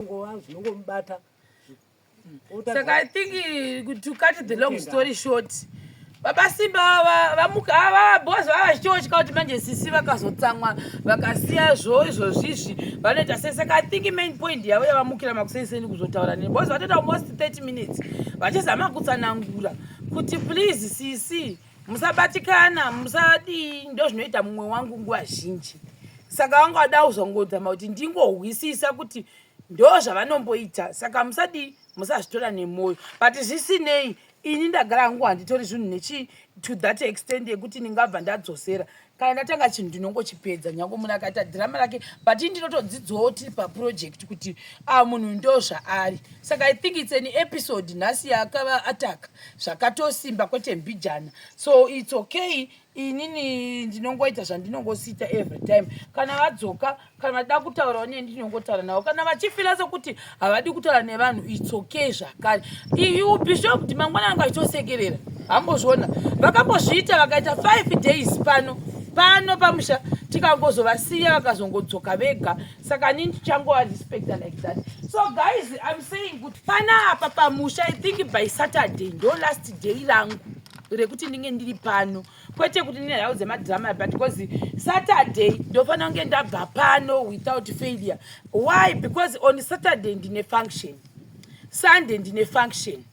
zvinongova zvinongomubata saka i think eh, to cut the long story short baba simba vamuka ava bos vava vachitotya kuti manje sisi vakazotsamwa vakasiya zvo izvozvizvi vanoita sei saka i think main point yavo yavamukira makuseiseni kuzotaura nei bos vatoita almost 30 minutes vachizama kutsanangura kuti please sisi si. musabatikana musadii ndozvinoita mumwe wangu nguva zhinji saka vanga vada kuzongodzama kuti ndingohwisisa kuti ndo zvavanomboita saka musadii musazvitora nemwoyo but zvisinei ini ndagara hangu handitori zvinhu nechi to that extend yekuti ndingabva ndadzosera kana ndatanga chinhu ndinongochipedza nyange munhu akaita dhirama rake but ii ndinotodzidzawo tiri paproject kuti a ah, munhu ndo zvaari saka i think its an episode nhasi yaakava ataka zvakatosimba kwete mbijana so its okay inini ndinongoita zvandinongosiita every time kana vadzoka kana vachida kutaurawo neni ndinongotaura navo kana vachifila sekuti havadi kutaura nevanhu its okay zvakare iyu bishop kuti mangwana anga achitosekerera hambozviona vakambozviita vakaita five days pano pano pamusha tikangozovasiya vakazongodzoka vega saka nini tichangova respecta like that so guys im saying kuti panapa pamusha i think by saturday ndo last day rangu rekuti ndinge ndiri pano kwete kuti ndine nhau dzemadrama but because saturday ndofanira kunge ndabva pano without failure why because on saturday ndine function sunday ndine function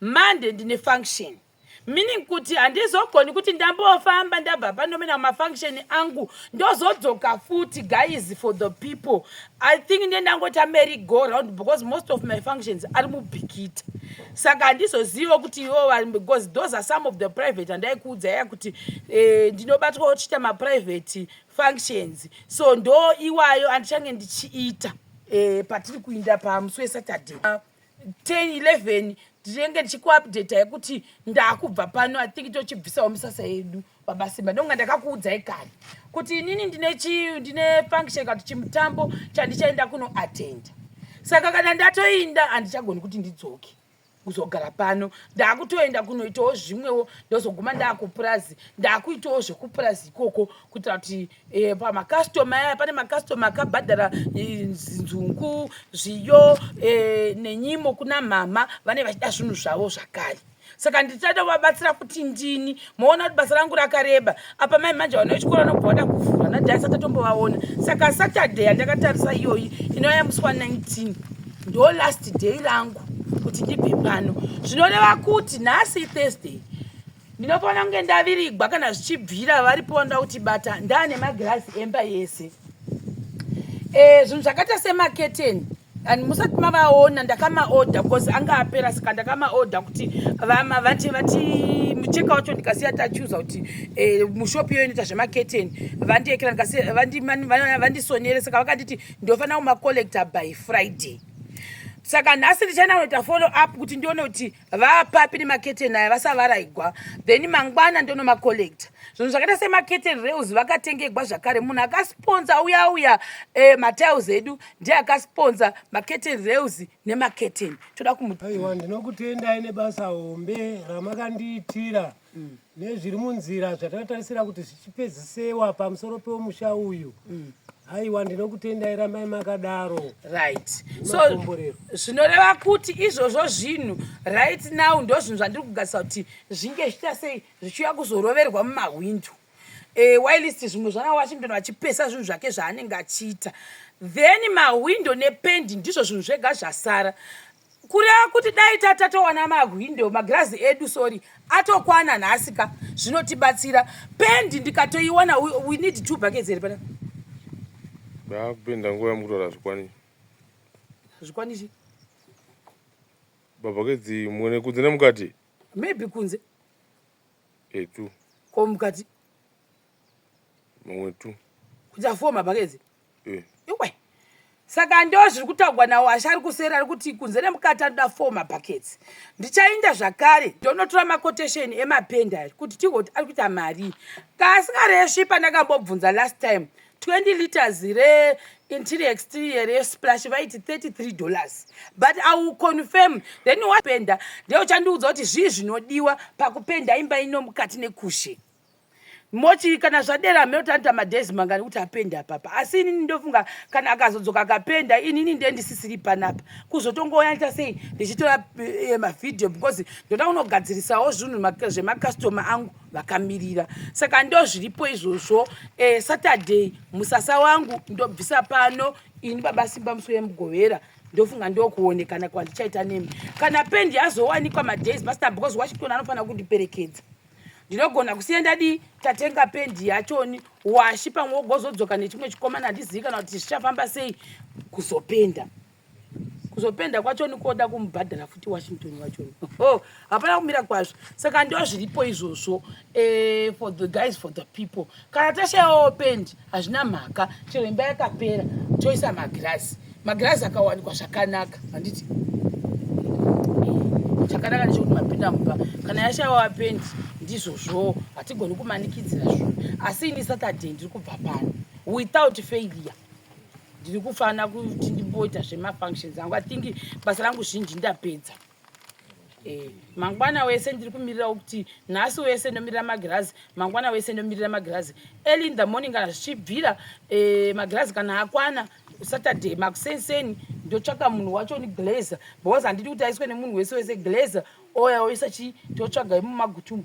monday ndine function meaning kuti handizogoni kuti ndambofamba ndabva pano mena mafunction angu ndozodzoka futi guys for the people I think ndiye ndangoita merry go round because most of my functions ari mubhikiti saka handizoziva kuti iwo vari because those are some of the private andaikuudza ya kuti eh, ndinobatwa ochiita maprivate functions so ndo iwayo andichange ndichiita eh, patiri kuinda pamusi wesaturday 10 11 ndinenge ndichikuupdata yekuti ndakubva pano i think tochibvisawo misasa yedu baba simba ndonga ndakakuudzai kani kuti inini ndine chi ndine function kati chimutambo chandichaenda kuno attenda saka kana ndatoinda handichagoni kuti ndidzoke kuzogara pano ndakutoenda kunoitawo zvimwewo ndozoguma ndakupurazi ndakuitawo zvekupurazi ikoko kuitira kuti Eh, pamakastoma aya pane makastoma akabhadhara eh, nzungu zviyo eh, nenyimo kuna mhama vane vachida zvinhu zvavo zvakare saka ndichada kuvabatsira kuti ndini moona kuti basa rangu rakareba apa mai manje vana vechikoro vanobva vada kuvhura nadai asati atombovaona saka saturday yandakatarisa iyoyi inouya musi wa 19 ndo last day rangu kuti ndibve pano zvinoreva kuti nhasi thursday ndinofanira kunge ndavirigwa kana zvichibvira varipo nda kuti bata ndaane magirazi emba yese e, zvinhu zvakaita semaketeni and musati mavaona ndakamaodha because anga apera saka ndakamaodha kuti vama vati vati mucheka wacho ndikasiya tachuza kuti e, mushopi iyo inoita zvemaketeni vandiekera vandisonere saka vakanditi ndofanira kumacollector by friday saka nhasi ndichana kunoita follow up kuti ndione kuti vapapi nemaketeni aya vasavaraigwa then mangwana ndonomacollecta zvinhu zvakaita semaketeni rails vakatengegwa zvakare munhu akasponza uya uya eh, matiles edu ndiye akasponza maketeni rails nemaketeni toda kumuaiwa ndinokutendai nebasa hombe ramakandiitira mm. nezviri munzira zvatatarisira kuti zvichipedzisewa pamusoro pemusha uyu mm. haiwa ndinokutendai rambai makadaro right so zvinoreva kuti izvozvo zvinhu right now ndo zvinhu zvandiri kugasisa kuti zvinge zvichita sei zvichiuya kuzoroverwa mumahwindo e, eh, wilist zvimwe zvana washington vachipesa zvinhu zvake zvaanenge achiita then mahwindo nependi ndizvo zvinhu zvega zvasara kureva kuti dai tatatowana mahwindo magirazi edu sorry atokwana nhasi ka zvinotibatsira pendi ndikatoiwana we need two buckets here pana ndakupenda nguva yamukutora zvikwani zvikwanichi babuckets mwene kunze nemukati maybe kunze etu ko mukati mamwe tu kuita four mabuckets mm. iwe saka ndo zviri kutaugwa nawo asi ari kuseri ari kuti kunze nemukati anoda four mabuckets ndichainda zvakare ndonotora maquotation emapendi ari kuti tigoti ari kuita mari kaasingaresvi pandakambobvunza last time 20 liters re interior exterior re splash vaiti 33 dollars but i will confirm then wapenda ndeuchandiudza kuti zvii zvinodiwa pakupenda imba ino mukati nekushe moti kana zvadera meotanita madhezi mangani kuti apende apapa asi inini ndofunga kana akazodzoka akapenda inini nde ndisisiri panapa kuzotongoyaita sei ndichitora eh, mavhidhiyo because ndoda kunogadzirisawo zvinhu zvemakastoma angu vakamirira saka ndo zviripo izvozvo eh, saturday musasa wangu ndobvisa pano ini baba simba musi wemugovera ndofunga ndokuonekana kwandichaita nemi kana pendi yazowanikwa madhezi pasina because washington anofanira kundiperekedza ndinogona kusiya ndadii tatenga pendi yachoni washi pamwe wogozodzoka nechimwe chikomana handizivi kana kuti zvichafamba sei kuzopenda kuzopenda kwachoni koda kumubhadhara futi washington wachoni oh, hapana oh, kumira kwazvo saka ndo zviripo izvozvo eh, for the guys for the people kana tashayawo pendi hazvina mhaka chero imba yakapera toisa magirazi magirazi akawanikwa zvakanaka handiti chakanaka nechekuti mapinda mumba kana yashawa pendi ndizvozvowo hatigoni kumanikidzira zvinhu asi ini saturday ndiri kubva pano without failure ndiri kufana kuti ndimboita zvemafunctions angu athingi basa rangu zhinji ndapedza Eh, mangwana wese ndiri kumirira kuti nhasi wese ndomirira magirazi mangwana wese ndomirira magirazi early in the morning kana zvichibvira eh, magirazi kana akwana saturday makusenseni ndotsvaka munhu wacho ni glazer because handidi kuti aiswe nemunhu wese wese glazer oya oisa chii totsvaga imumagutumu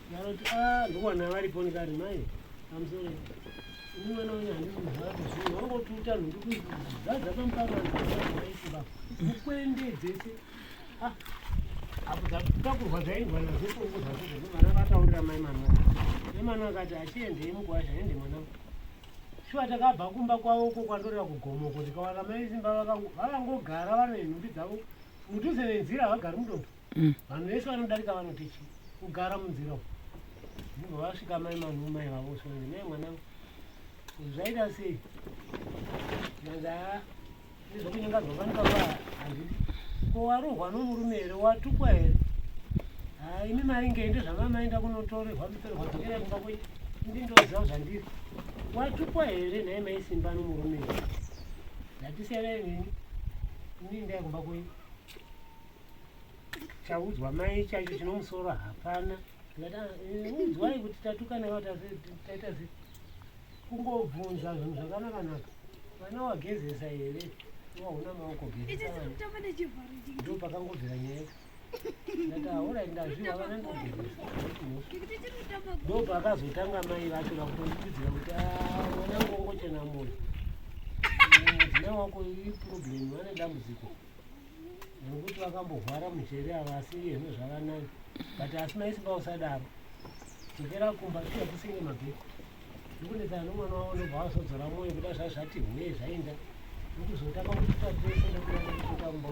Vanoti ah ndovana varipo ndikati mai I'm sorry. Ini mwana wenyu handisi kuzvara kuzvinhu wangotuta nhundu kuzadza pamuparo vanaiiba mukwende dzese ah, apo dzatakurwa zvaindwa nazvo kongo zvacho zvino vana vataurira mai mama mai mama akati achiendei mukwasha ende mwana shuwa takabva kumba kwavo uko kwatorera kugomoko ndikawana mai simba vakangogara vane nhumbi dzavo mudhuze nenzira havagari mudoto mm. vanhu vese vanodarika vanoti chi kugara munzira uku ndibva vasvika mai manhu mai vavo sozi mai mwanangu zvaita sei nanza nezvokunyenga zvafanika kwa handidi ko warohwa nomurume here watukwa here ha imi mari ngei ndezvamamaenda kunotorerwa mutorerwa dzokera kumba kwenyu ndi ndoziva zvandiri watukwa here nhai maisimba nomurume here ndatisiyana inini ini ndaikumba kwenyu chaudzwa mai chacho chino musoro hapana udzwai kuti tatukana va taita zi kungobvunza zvinhu zvakanakanaka vana wagezesa here wahuna maoko ndo pakangobvira nyaya ndati aora ndazviva vana ndogezesa ndo pakazotanga mai vacho vakutoidzira kuti mwana ngongochena moyo mudzina wako iproblem vane dambudziko nokuti vakambohwara mujeri ava asi iyezvo zvavanani but asi maisimba usadaro dzokera kumba tiya kusenge mabheko ndikunetsana nomwana wavo nobva wazodzora mwoyo kuda zvazvati hwe zvainda ndokuzotanga kutitatesendokuaamba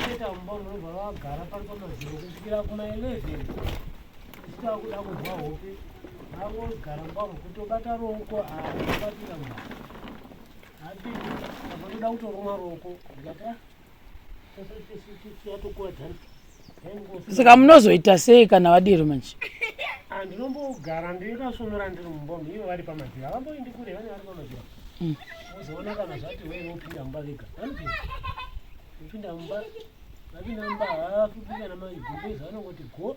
aita mumba munobva vagara pari pamaziro kusvikira kuma 11 ichitava kuda kunzwa hope vavogara mumba mukutobata ruoko aabatira mwana Vanoda kutoruma roko yatokuwadzana saka munozoita sei kana vadiro manje handinombogara ah, ndingasonora ndiri mumbomi ivo vari pamadziro havamboindi kure vane vari pamadziro mm. ozoona kana zvati wee vopinda mumba vega vopinda mumba vapinda mumba havafupi kana magumbezi vanongoti go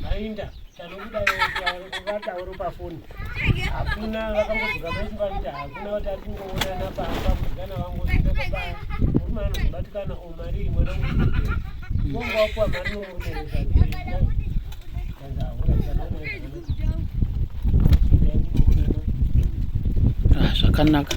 Mainda tanokuda vatauro pafoni hakuna vakangodzoka maiti vaita hakuna vati ari kungoonana pamba mudana vangozita pabaya murume anozobatikana o mari imwe nonga wapuwa mari nomurume wezvakanzi ahura zvakanaka